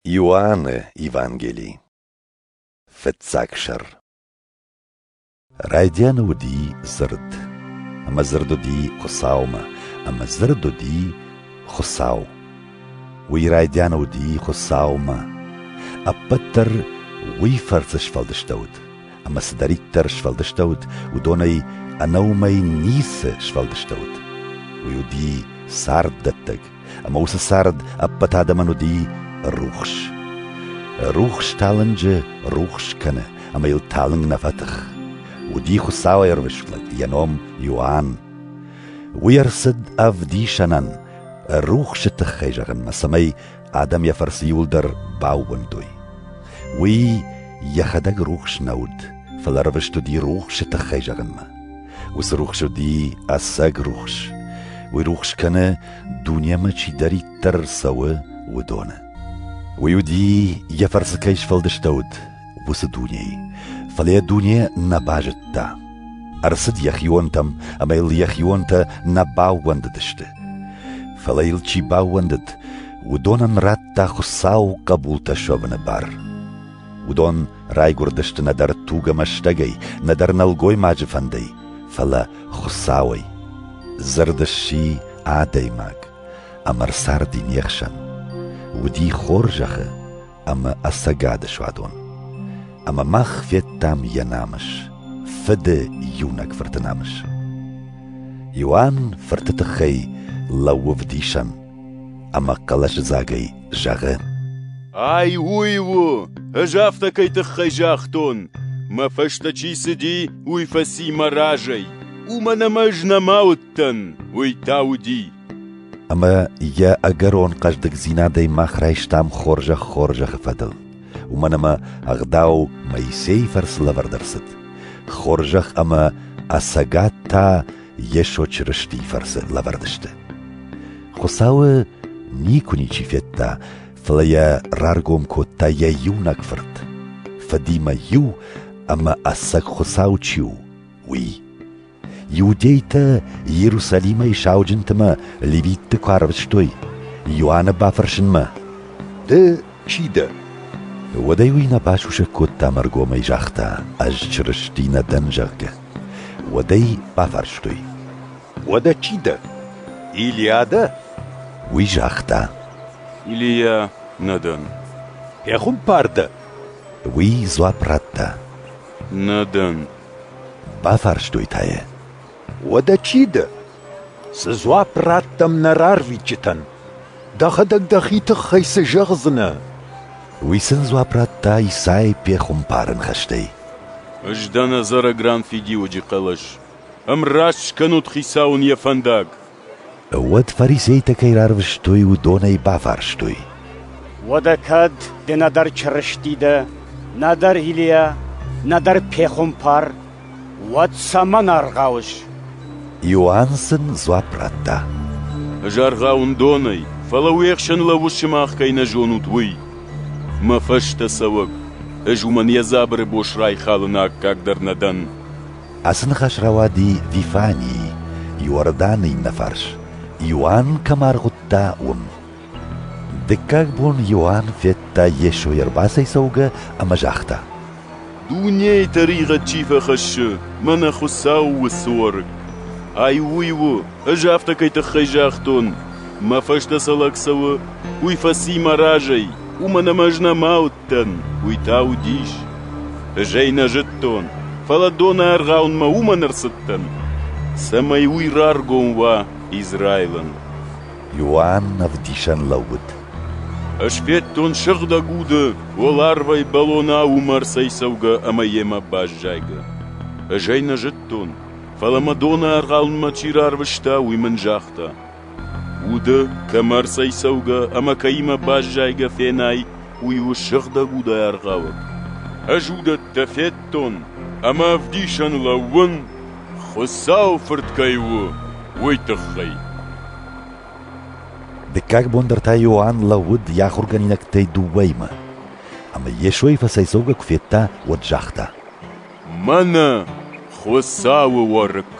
Иоанны Евангели Фыццаг сӕр Райдианы уыди дзырд, ӕмӕ дзырд уыди Хуыцаумӕ, ӕмӕ дзырд уыди Хуыцау. Уый райдианы уыди Хуыцаумӕ. Ӕппӕт дӕр уый фӕрцы сфӕлдыстӕуыд, ӕмӕ цыдӕриддӕр сфӕлдыстӕуыд, уыдонӕй ӕнӕ уымӕй ницы сфӕлдыстӕуыд. Уый уыди царддӕттӕг, Ӕмӕ уыцы цард ӕппӕт адӕмӕн уыди рухс. Рухс талынджы рухс кӕны, ӕмӕ йыл талынг нӕ фӕтых. Уыди Хуыцауӕй ӕрвысфлӕг йӕ ном Иоанн. Уый ӕрцыд ӕвдисӕнӕн, рухсы тыххӕй зӕгъынмӕ, цӕмӕй адӕм йӕ фӕрцы иуылдӕр баууӕндой. Уый йӕхӕдӕг рухс нӕ уыд, фӕлӕ ӕрвыст уыди рухсы тыххӕй зӕгъынмӕ. Уыцы рухс уыди ӕцӕг рухс. Уый рухс кӕны, дунемӕ чидӕриддӕр цӕуы, уыдоны. Уый уыди, йӕ фӕрцы кӕй сфӕлдыстӕуыд, уыцы дунейы. Фӕлӕ йӕ дуне нӕ базыдта. Ӕрцыд йӕхионтӕм, ӕмӕ йыл йӕхионтӕ нӕ баууӕндыдысты. Фӕлӕ йыл чи баууӕндыд, уыдонӕн радта Хуыцау хъӕбултӕ суӕвыны бар. Уыдон райгуырдысты нӕдӕр тугӕмӕ стӕгӕй, нӕдӕр нӕлгоймаджы фӕндӕй, фӕлӕ Хуыцауӕй. Дзырд сси адӕймаг ӕмӕ рцарди не хсӕн. Уыди хорзӕхы ӕмӕ ӕцӕгады суадон. Ӕмӕ мах федтам йӕ намыс, фыды иунӕг фырты намыс. Иоанн фырты тыххӕй лӕууыв дисӕн, ӕмӕ хъӕлӕсыдзагӕй зӕгъы: Ай уый у, ӕз афтӕ кӕй тыххӕй загътон. Мӕ фӕстӕ чи цыди, уый фӕци мӕ разӕй. Уымӕн ӕмӕ ӕз нӕма уыдтӕн, уый та уыди. Ӕмӕ йӕ ӕгӕрон хъӕздыгдзинадӕй мах райстам хорзӕх-хорзӕхы фӕдыл. Уымӕн ӕмӕ ӕгъдау Моисейы фӕрцы лӕвӕрд ӕрцыд. Хорзӕх ӕмӕ ӕцӕгад та Йесо Чырыстийы фӕрцы лӕвӕрд сты. Хуыцауы никуы ничи федта, фӕлӕ йӕ раргом кодта йӕ иунӕг Фырт, Фыдимӕ-иу ӕмӕ ӕцӕг Хуыцау чи у, уый. Иудейтӕ Иерусалимӕй сауджынтымӕ левитты куы арвыстой, Иоанны бафӕрсынмӕ: «Ды чи дӕ?» Уӕдӕй уый нӕ басусӕг кодта ӕргомӕй загъта, ӕз Чырысти нӕ дӕн, зӕгъгӕ. Уӕд ӕй бафарстой: «Уӕдӕ чи дӕ, Илиа дӕ?» Уый загъта: «Илиа нӕ дӕн». «Пехуымпар дӕ?» Уый дзуапп радта: «Нӕ дӕн». Бафарстой та йӕ: «Уӕдӕ чи дӕ?» Цы дзуапп раттӕм нӕ рарвитджытӕн? Дӕхӕдӕг дӕхи тыххӕй цы зӕгъдзынӕ? Уый сын дзуапп радта Исай пехуымпары ныхӕстӕй. Ӕз дӕн ӕдзӕрӕгран фидиуӕджы хъӕлӕс. Ӕмраст скӕнут Хицауӕн йӕ фӕндаг. Уӕд фарисейтӕ кӕй рарвыстой, уыдонӕй бафарстой. Уӕдӕ кӕд ды нӕдӕр чырысти дӕ, нӕдӕр Илийа, нӕдӕр пехуымпар, Уӕд цӕмӕн аргъауыс? Иоанн сын дзуапп радта. Ӕз аргъауын донӕй, фӕлӕ уе хсӕн лӕууыс сымах кӕй нӕ зонут, уый. Мӕ фӕстӕ цӕуӕг, ӕз уымӕн йӕ дзабыры бос райхалыны аккаг дӕр нӕ дӕн. Ацы ныхас рауади Вифанийы, Иорданы иннӕ фарс, Иоанн кӕм аргъуыдта, уым. Дыккаг бон Иоанн федта Йесо ӕрбацӕйцӕугӕ ӕмӕ загъта: Дунейы тӕригъӕд чи фӕхӕссы, мӕнӕ Хуыцау у суарг. Ай уый у, ӕз афтӕ кӕй тыххӕй загътон, мӕ фӕстӕ цы лӕг цӕуы, уый фӕци мӕ разӕй, уымӕн ӕмӕ ӕз нӕма уыдтӕн, уый та уыдис. Ӕз ӕй нӕ зыдтон, фӕлӕ доны аргъаунмӕ уымӕн ӕрцыдтӕн, цӕмӕй уый раргом уа Израилӕн. Иоанн ӕвдисӕн лӕууыд. Ӕз федтон сыгъдӕг уды уӕларвӕй бӕлонӕ уымӕрцӕй цӕугӕ ӕмӕ йемӕ баззайгӕ. Ӕз ӕй нӕ зыдтон, фӕлӕ мӕ доны аргъалынмӕ чи рарвыста, уый мын загъта: Уды кӕмӕрцӕй цӕугӕ ӕмӕ кӕимӕ баззайгӕ фенай, уый у сыгъдӕг удӕй аргъауӕг. Ӕз уыдӕттӕ федтон ӕмӕ ӕвдисӕн лӕууын, Хуыцауы Фырт кӕй у, уый тыххӕй. Дыккаг бон дӕр та Иоанн лӕууыд йӕ ахуыргӕнинӕгтӕй дыууӕимӕ. Ӕмӕ Йесойы фӕцӕйцӕугӕ куы федта, уӕд загъта: «Мӕнӕ Хуыцауы уӕрыкк!»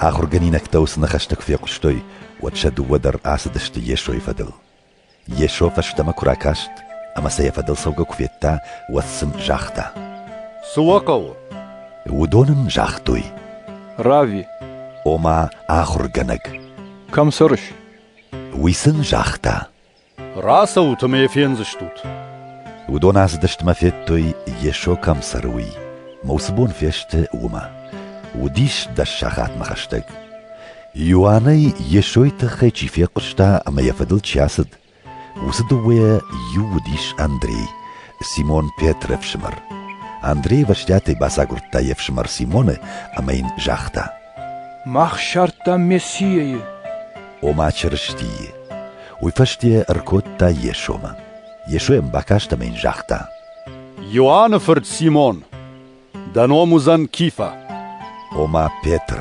Ахуыргӕнинӕгтӕ уыцы ныхӕстӕ куы фехъуыстой, уӕд сӕ дыууӕ дӕр ацыдысты Йесойы фӕдыл. Йесо фӕстӕмӕ куы ракаст ӕмӕ сӕ йӕ фӕдыл цӕугӕ куы федта, уӕд сын загъта: «Цы уӕ хъӕуы?» Уыдон ын загътой: «Рави». Ома ахуыргӕнӕг. «Кӕм цӕрыс?» Уый сын загъта: «Рацӕут ӕмӕ фендзыстут». Уыдон ацыдыстмӕ федтой, Йесо кӕм цӕры, уый. Ма уыцы бон фесты уымӕ. Уыдис дӕс сахатмӕ хӕстӕг. Иоаннӕй Йесойы тыххӕй чи фехъуыста ӕмӕ йӕ фӕдыл чи ацыд, уыцы дыууӕйӕ иу уыдис Андрей, Симон Петры ӕфсымӕр. Андрей ӕвӕстиатӕй бацагуырдта йе фсымӕр Симоны ӕмӕ йын загъта: Мах ссардтам Мессийӕйы. Ома Чырыстийы. Уый фӕстӕ ӕркодта Йесомӕ. Йесо йӕм бакаст ӕмӕ йын загъта: Иоанны фырт Симон! Дӕ ном уыдзӕн Кифа. Ома Петр.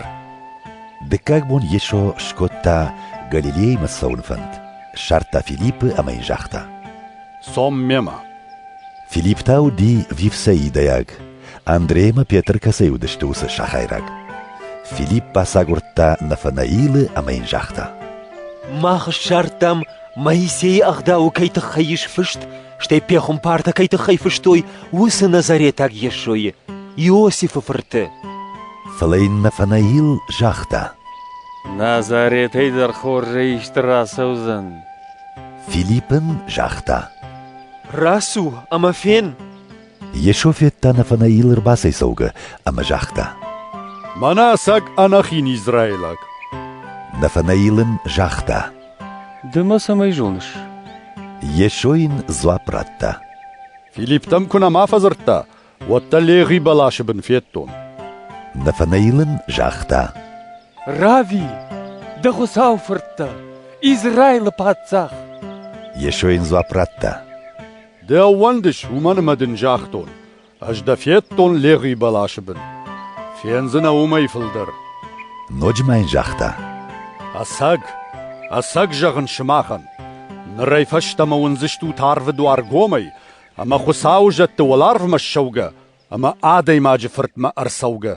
Дыккаг бон Йесо скодта Галилеймӕ цӕуын фӕнд. Ссардта Филиппы ӕмӕ йын загъта: Цом мемӕ. Филипп та уыди вифсеидӕйаг. Андреймӕ Петр кӕцӕй уыдысты, уыцы сахайраг. Филипп бацагуырдта Нафанаилы ӕмӕ йын загъта: Мах ссардтам, Моисейы ӕгъдауы кӕй тыххӕй ис фыст, стӕй пехуымпартӕ кӕй тыххӕй фыстой, уыцы назаретаг Йесойы, Иосифы фырты. Фӕлӕ йын Нафанаил загъта. Назаретӕй дӕр хорзӕй исты рацӕудзӕн. Филипп ын загъта. Рацу ӕмӕ фен! Йесо федта Нафанаил ӕрбацӕйцӕугӕ ӕмӕ загъта: «Мӕнӕ ӕцӕг ӕнӕхин израилаг!» Нафанаил ын загъта: «Ды мӕ цӕмӕй зоныс?» Йесо йын дзуапп радта: «Филипптӕм куы нӕма фӕдзырдта, уӕд дӕ легъи бӕласы бын федтон». Нафанаил ын загъта: «Рави, дӕ Хуыцау фырт дӕ, Израилы паддзах!» Йесо йын дзуапп радта: Ды ӕууӕндыс, уымӕн ӕмӕ дын загътон, ӕз дӕ федтон Легъи бӕласы бын. Фендзынӕ уымӕй фылдӕр. Ноджы ма йын загъта: Ӕцӕг, ӕцӕг зӕгъын сымахӕн, нырӕй фӕстӕмӕ уындзыстут арвы дуар гомӕй ӕмӕ Хуыцауы зӕдты уӕларвмӕ ссӕугӕ ӕмӕ Адӕймаджы Фыртмӕ ӕрцӕугӕ.